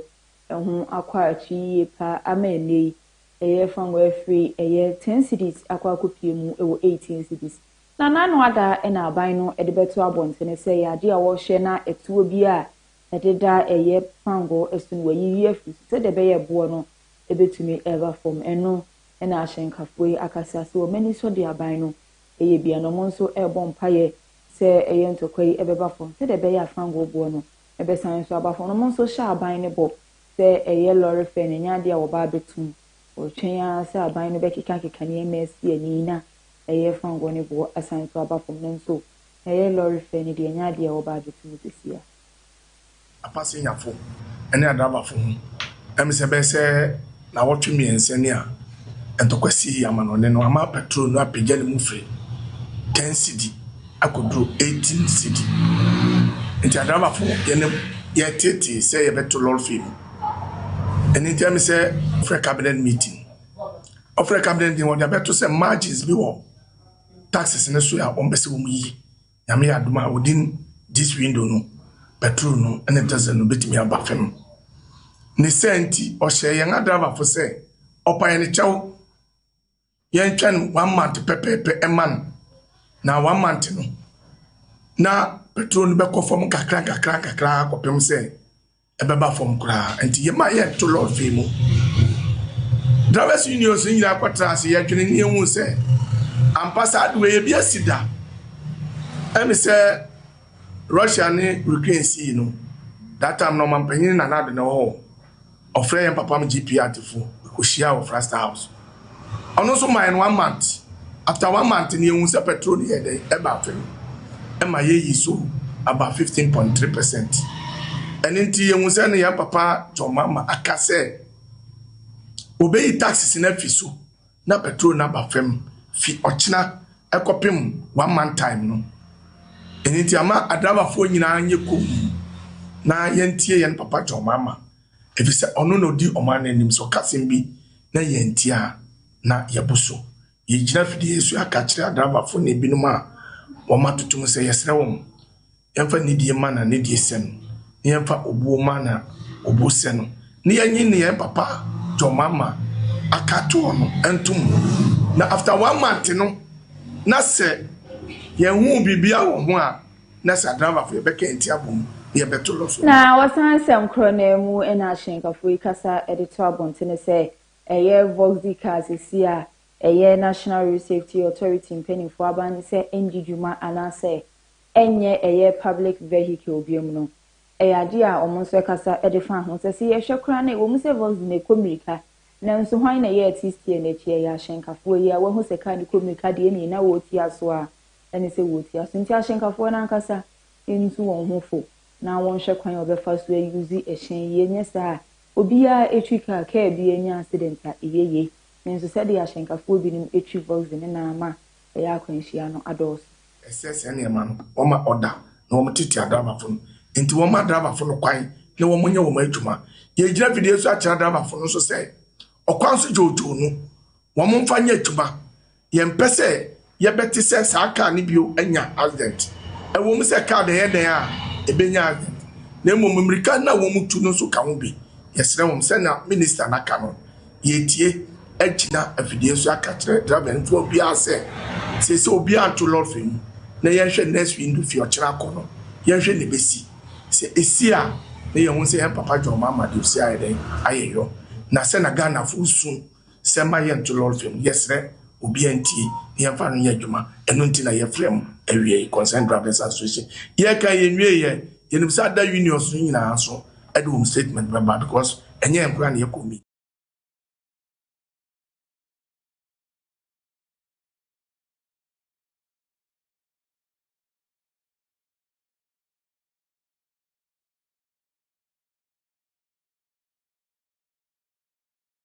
ɛho akɔ akyi yie paa ama ɛnnɛ yi ɛyɛ fangɔɔ afiri ɛyɛ ten cedis akɔ akɔpie mu wɔ eighteen cedis. Na n'ano ada na aban no de bɛto abɔntene sɛ ɛyɛ adeɛ a wɔhyɛ na ɛtoɔ bi a ɛde da ɛyɛ fangɔɔ ɛso no wɔayiyi afiri so sɛdeɛ ɛbɛyɛ ɛboɔ no bɛtumi ɛreba fam. Ɛno na ahyɛnkafoɔ yi akasa sɛ wɔn ani sɔ deɛ aban no Ɛyɛ bi a na wɔn nso rebɔ mpaeɛ sɛ ɛyɛ ntɔkwa yi bɛba fam sɛdeɛ ɛbɛyɛ a fangoo boɔ no bɛsan nso aba fam. Wɔn nso hyɛ aban no bɔ sɛ ɛyɛ lɔre fɛ no, ɛnyɛ adeɛ a wɔba abɛtom. Wɔretwɛn ara sɛ aban no bɛkekakeka nneɛma asi ani na ɛyɛ fangoo no boɔ asan nso aba fam. Nanso ɛyɛ lɔre fɛ no deɛ, ɛnyɛ adeɛ a wɔba abɛtom seesei ara. apasenyafo ne adrabafo ho. Ɛmɛ sɛ ɛbɛyɛ sɛ naawɔtwe mmiɛnsa ni a ntɔkwa sii amanɔne no ama petrol no apagya ne mu firi 10 cedi akɔduru 18 cedi. Nti adrabafo yɛne yɛteetee sɛ yɛbɛto lɔre fee mu. Ɛno nti ɛmɛ sɛ frɛ cabinet meeting. Ɔfrɛ cabinet meeting wɔde abɛto sɛ margins bi wɔ taxes no so a wɔn pɛ sɛ wɔn yi. Nyame yɛ adom a within this window no, petrol no ne diesel no bɛtumi aba fam. Ne sɛ nti, ɔhyɛɛ yɛn adrivafo sɛ ɔpa yɛn kyɛw, yɛntwɛn one month pɛpɛɛpɛ ɛma no. Na one month no, na petrol no bɛkɔ fam nkakra nkakra nkakra kɔpem sɛ ɛbɛba fam koraa nti yɛma yɛto lɔɔfee mu drivers unions no nyinaa kɔtra ase yɛdwene ne yɛhu sɛ ampa saa de wei ebi asi da ɛne sɛ russia ne ukraine sii no that time na ɔmampanyin na nado na ɛwɔ hɔ ɔfrɛ yɛn papa m gp atefo ɛkɔhyia wɔ frasta house ɔno nso mae no one month after one month no yɛhu sɛ petrol no yɛɛ dɛn ɛbaa fam ɛma yɛyi so about fifteen point three percent ɛno nti yɛhu sɛ no yɛn papa John Mahama aka sɛ obeyi taxes no afi so na petrol no aba fam fi ɔkyena ɛkɔpem one month time no ɛno nti ama adrabafoɔ nyinaa nyɛ komm na yɛntie yɛn papa John Mahama efisɛ ɔno na odi ɔman no anim. Sɛ ɔka asɛm bi na yɛantie a, na yɛabu so. Yegyina afideyɛ so aka kyerɛ adrabafo ne ebinom a wɔatoto mu sɛ, Yɛsrɛ wɔn, yɛmfa nidi mma na nidi sɛ no, na yɛmfa obuo mma na obuo sɛ no, na yɛnye nneyɛe papa John Mahama aka ato hɔ no ntom. Na after one month no, na sɛ yɛahu biribiara wɔ ho a, Na sɛ adravafo yɛ bɛkɛ nti abom na yɛ bɛto lɔ so. Na wɔsan nsɛm korɔ no ara mu na ahyɛnkafo yi kasa de to abontene sɛ ɛyɛ Voxy cars si a ɛyɛ National Road Safety Authority mpaninfoɔ aban no sɛ ɛndi dwuma anaasɛ ɛnyɛ ɛyɛ public vehicle biom no ɛyɛ adeɛ a wɔn nso ɛkasa de fa ho sɛ sɛ yɛhwɛ koraa no ɛwɔ mu sɛ Voxy no ɛkɔ mirika nanso hwan na ɛyɛ artist yɛ no akyi ɛyɛ ahyɛnkafoɔ yi a wahu sɛ car no kɔ mirika deɛ ɛneɛ na wɔretua so a ne sɛ wɔretua so nti ahyɛnkafoɔ no ankasa ntu wɔn ho fo na wɔnhwɛ kwan a wɔbɛfa so ayuse ɛhyɛn yi, ɛnyɛ saa a obiara ɛtwi kaa, kaa bi anya accident a ɛyɛ yei. Nanso sɛdeɛ ahyɛnkafoɔ binom ɛtwi Voxy no na ama ɛyɛ akwanhyia no adɔɔso. Ɛsɛ saa nneɛma no wɔma ɔda na wɔtete adrɛbafo no nti wɔma adrɛbafo no kwan na wɔnyɛ wɔn adwuma. Yɛregyina afidie so akyerɛ adrɛbafo no nso sɛ ɔkwan so dwoodwoo no wɔmfa nyɛ adwuma Yɛmpɛ sɛ yɛbɛte sɛ saa kaa no bio anya asedɛnt, ɛwom sɛ kaa dɛn dɛn a ebenya asedɛnt, na mmom mmirika no a wɔtu no nso ka ho bi. Yɛsrɛ wɔn, sɛnea Minista no aka no, yɛatie, agyina afidie so aka akyerɛ driver no fua biara sɛ, seesei obiara nto lɔre mu na yɛnhwɛ next window fi ɔkyena akɔ no, yɛnhwɛ nea ebesi. Sɛ esi a, na yɛahu sɛ yɛn Papa John Mahama de osi ayɛ dɛn ayɛ yɔ, na sɛnea Ghanafo resu. sɛ mma yɛnto lɔre fam no, yɛsrɛ obiara ntie na yɛmfa no nyɛ adwuma. Ɛno nti na yɛfrɛ mo awiei, Concerned Drivers Association. Yɛreka yi, yɛnwiei ɛ. Yɛnim sɛ ada unions no nyinaa nso de wɔn statement bɛba because ɛnyɛ yɛn koraa na yɛkɔ meeting.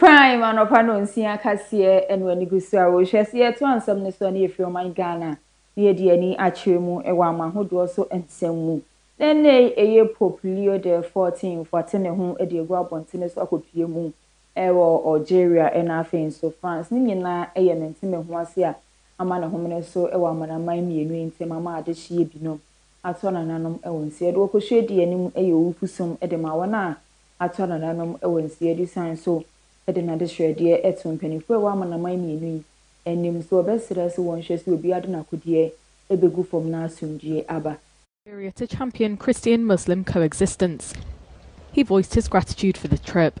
Prime anɔpa nonsia kaseɛ ɛno anigusoɔ a wohwɛ sɛ yɛto ansɛm no so a na yɛfiri ɔman Ghana na yɛde ani akyerɛ mu wɔ ama ahodoɔ so nsɛm mu na ɛnnɛ yi ɛyɛ Pope Leo the 14th ate ne ho de agu abɔntene so akɔpie mu wɔ Algeria ɛna afei nso France ne nyinaa ɛyɛ mentemeho ase a ama ne homene so wɔ amanaman mmienu yi ntam ama adehyeɛ binom atɔ nananom wɔ nsi adi. Ɔkɔhwɛ adi yɛ no mu yɛ owupusom de ma wɔn a atɔ nananom wɔ nsi adi sane so de n'adesrɛdeɛ to mpanimfoɔ a ɛwɔ amanaman mmienu yi anim sɛ wɔbɛsrɛ sɛ wɔnhwɛ sɛ obiara de n'akodeɛ bɛgu fam na asomdwoeɛ aba. Area to champion Christian-Muslim coexistence. He voiced his gratitude for the trip.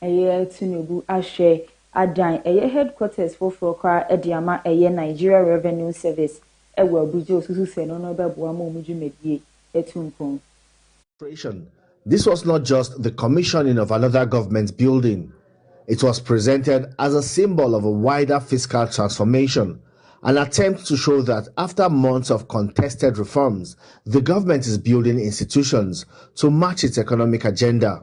Ɛyɛ Tinubu ahwɛ adan ɛyɛ headquarters foforɔ koraa de ama ɛyɛ Nigeria Revenue Service wɔ Abuja osusu sɛ ɛno no bɛboa ma wɔn dwumadie atu mpɔn. Creation, This was not just the commissioning of another government building, it was presented as a symbol of a wider fiscal transformation, an attempt to show that after months of contested reforms, the government is building institutions to match its economic agenda.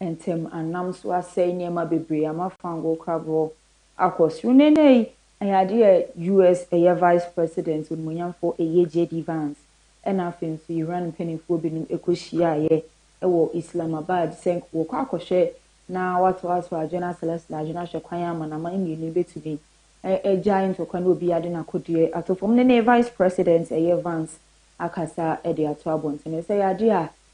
Ntam anam so asɛe nneɛma bebree ama fangoo krabɔ akɔ soro. Na nnɛ yi, ɛyɛ adeɛ a US. ɛyɛ Vice President onimuonyamfoɔ ɛyɛ JD Vance ɛna afei nso Iran mpaninfoɔ binom ɛkɔhyiaaeɛ ɛwɔ Islamabad sɛ nka wɔkɔ akɔhwɛ na watoa so adwene asalasala adwene ahwɛ kwan a amanaman mmienu yi bɛtumi agyae ntɔkwa ne obiara de n'akodeɛ ato fam. Nnɛ Vice President ɛyɛ Vance akasa de ato abɔntene sɛ ɛyɛ adeɛ a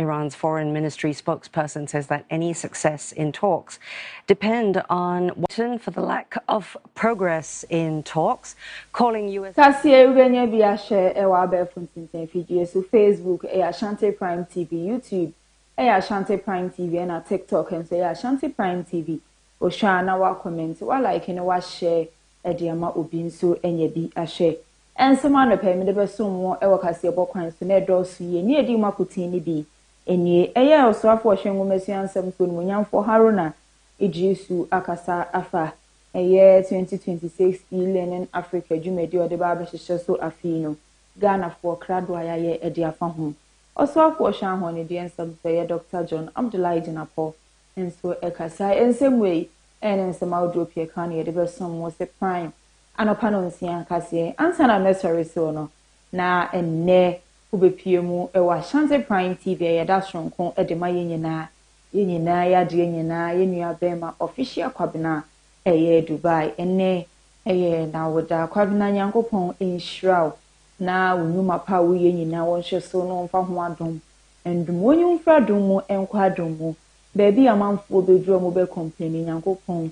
Iran's foreign ministry spokesperson says that any success in talks depend on Washington for the lack of progress in talks, calling US. Kaseɛ wobɛnya bi ahyɛ ɛwɔ abɛɛfo ntintan fidie so Facebook ɛyɛ Ashanti Prime TV YouTube ɛyɛ Ashanti Prime TV ɛna TikTok nso ɛyɛ Ashanti Prime TV wohwɛ a na woakɔmɛnte woalaeke ne woahyɛ ɛde ama obi nso anya bi ahyɛ Ɛnso m'anɔpa yi mede bɛsom mo wɔ kaseɛbɔ kwan so, na ɛdɔɔso yie. Nea ɛdi mu akoten no bi nie. Ɛyɛ a ɔsoafoɔ a ɔhwɛ nwoma asua nsɛm soɔ animuonyamfoɔ Haruna Iddrisu akasa afa ɛyɛ 2026 E-Learning Africa dwumadie a ɔde bɛba abɛhyehyɛ so afe yi no Ghanafoɔ krado a yɛayɛ de afa ho. Ɔsoafoɔ a ɔhwɛ ahɔnnedeɛ nsɛm so ɛyɛ Doctor John Abdullahi Jinapor nso kasaeɛ. Nsɛm wei ne nsɛm ahodoɔ pii a ɛka ho na yɛde bɛsom mo. Sɛ Prime. Anɔpa nonsia nkasɛɛ ansa na mɛsɔre so no, na ɛnnɛ wobɛpue mu wɔ Ashanti Prime TV a yɛda sononko de ma yɛn nyinaa, yɛn nyinaa, yɛn adeɛ nyinaa, yɛn nua bɛɛma Official Kwabena ɛyɛ Dubai. Ɛnnɛ ɛyɛ n'awoda. Kwabena Nyankopɔn nhyira wo na wo nnwuma pa a wo yɛ nyinaa wo nhwɛ so na ɔmfa ho adom ndom wo nyi wo mfiri adom mu nkɔ adom mu. Baabi a amanfoɔ bɛduru a wɔbɛ complaini Nyankopɔn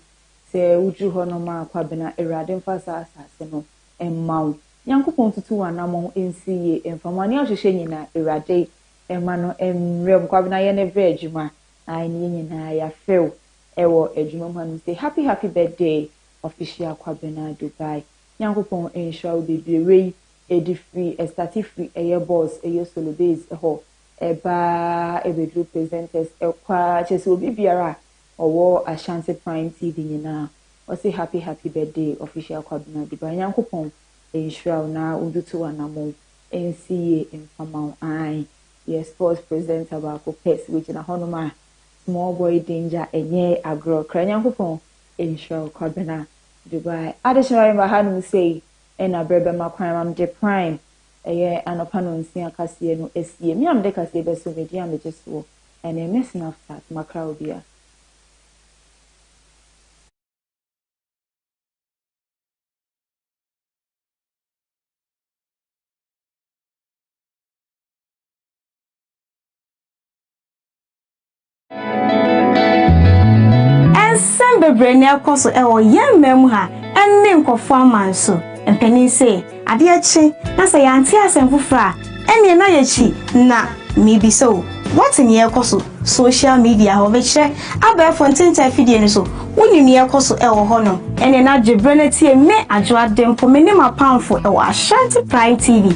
Sɛ wuduru hɔ no, ma Kwabena Awurade mfa saa asase no mma wo. Nyankopɔn ntutu w'anamɔn nsi yie mfa ma wo. Nea ɔhwehwɛ nyinaa, Awurade mma no mmerɛ mu. Kwabena yɛ ne berɛ adwuma na ayɛ ne yɛ nyinaa. Yɛafrɛ wo wɔ adwuma mu hanom sei. Happy happy birthday Official Kwabena Dubai. Nyankopɔn nhyira wo bebree. Wei ɛdi firi, ɛstate firi ɛyɛ boss, ɛyɛ solo base hɔ ɛba ɛbɛduru presenters ɛkɔ ara. Kyerɛ sɛ obi biara a Ɔwɔ Ashanti prime TV nyinaa ɔse happy happy birthday official Kwabena Dubai Nyankopɔn nhyira wo na ontutu w'anamɔn nsi yie mfama wo ae yɛ sports presenter baako pɛ sɛ wogyina hɔnom a small boy danger ɛnyɛ agorɔ kra Nyankopɔn nhyira wo Kwabena Dubai Adekyema me ba hanom sei na berɛ bɛma kwan ma mede prime ɛyɛ anɔpa nɔnsia kaseɛ no asie me a mede kaseɛ bɛso me din a megye soɔ Ɛne me snapchat makra wo bi a. Nsɛm bebree na ɛrekɔ so wɔ yɛn man mu ha ne nkurɔfo aman so. Mpanyin se, Adeɛ kye na sɛ yɛante asɛm foforɔ a, ɛnneɛ na yɛkyi. Na mebisa o, woate nea ɛrekɔ so social media hɔ? Mekyerɛ, abɛɛfo ntentan afidie no so, wonim nea ɛrekɔ so wɔ hɔ no? Ɛnneɛ na gye berɛ na tie me, Adwoaden mpo, me ne m'apamfo wɔ Ashanti Pride TV,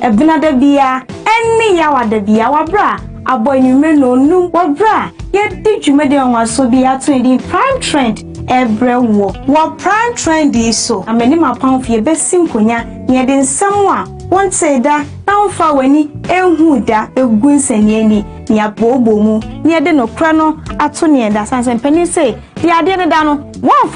Benada biara, ɛnne Yawada biara, wɔ berɛ a abɔ anwummerɛ nnɔnnum, wɔ berɛ a yɛde dwumadi nwanwasoɔ bi a yɛato ne din Prime Trend. Ɛrebrɛ woɔ. Wɔ Prime Trendy yi so na me ne m'apamfo yɛbɛsi nkonnwa na yɛde nsɛm a wontee da na womfaa w'ani nhuu da bɛgu nsɛnniani na yɛabooboo mu na yɛde nokorɛ no ato nea ɛda. Sansan panin se, Deɛ adeɛ deda no, wɔmfa.